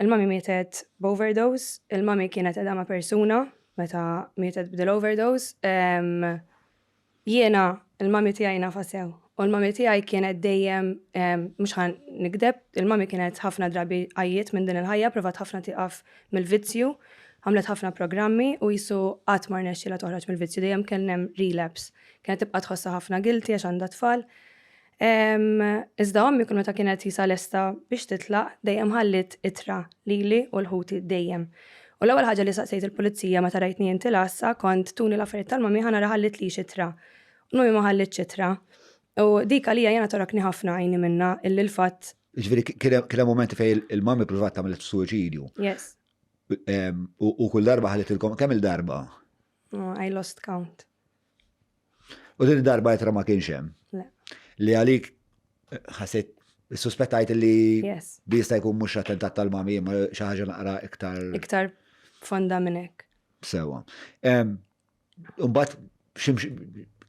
Il-mami mietet b'overdose, il-mami kienet edha ma' persuna meta mietet b'dil overdose. Jiena il-mami tiegħi nafa sew. U l-mami tiegħi kienet dejjem mhux ħan nikdeb, il-mami kienet ħafna drabi għajjiet minn din il-ħajja, provat ħafna tieqaf mill-vizzju, għamlet ħafna programmi u jisu qatt ma rnexxielha toħroġ mill-vizzju dejjem kien hemm relapse. Kienet tibqa' tħossha ħafna guilty għax għandha tfal. Iżda ommi kull meta kienet tqisha lesta biex titlaq, dejjem ħalliet ittra lili u l-ħuti dejjem. U l-ewwel ħaġa li saqsejt il-pulizija meta rajtni inti l-għassa kont tuni l-affarijiet tal-mommy ħa nara ħallitlix ittra. U l-mommy ma ħallitx ittra. U dik għalija jiena torokni ħafna għajni minnha illi l-fatt. Jiġifieri kien hemm mumenti fejn il-mommy ppruvat tagħmel suwiċidju. Yes. U kull darba ħallitilkom kemm-il darba? I lost count. U din darba jitra ma kienx hemm. Li għalik ħaset suspettajt li bista jkun mhux attentat tal-mami imma xi ħaġa naqra iktar. Iktar fonda minn hekk. Sewa. Umbat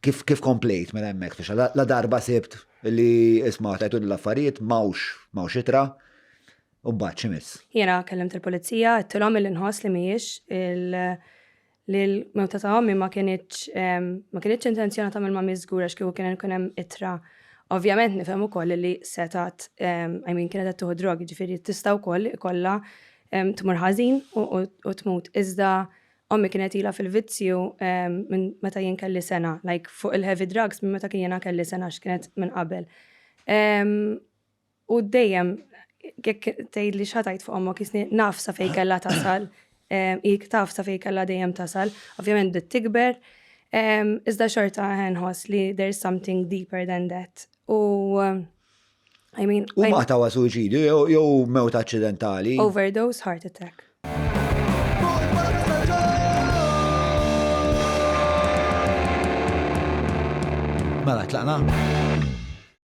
kif kif komplejt minn hemmhekk fiex la darba sibt li isma' tajtu l-affarijiet mawx mawx itra. Umbat ximis. Jena kellimt il-pulizija, għattilhom il-inħoss li mhijiex il- li l-mewta ta' ommi ma kienitx ma kienitx intenzjona ta' mill-mammi żgur għax kieku kien ikun hemm itra. Ovvjament nifhem ukoll li setat I mean kienet qed tieħu drogi ġifieri tista' wkoll ikollha tmur ħażin u tmut. Iżda ommi kienet ilha fil-vizzju minn meta jien kelli sena, like fuq il-heavy drugs minn meta kien jiena kelli sena x'kienet minn qabel. U dejjem jekk tgħidli x'ħa tgħid fuq ommok jisni naf sa fejn kellha tasal, hik taf sa fejn kellha dejjem tasal, ovvjament bdiet tikber, iżda xorta nħoss li there is something deeper than that. U I mean. U ma tawa suicidju jew mewt accidentali. Overdose, heart attack. Mela, tlaqna?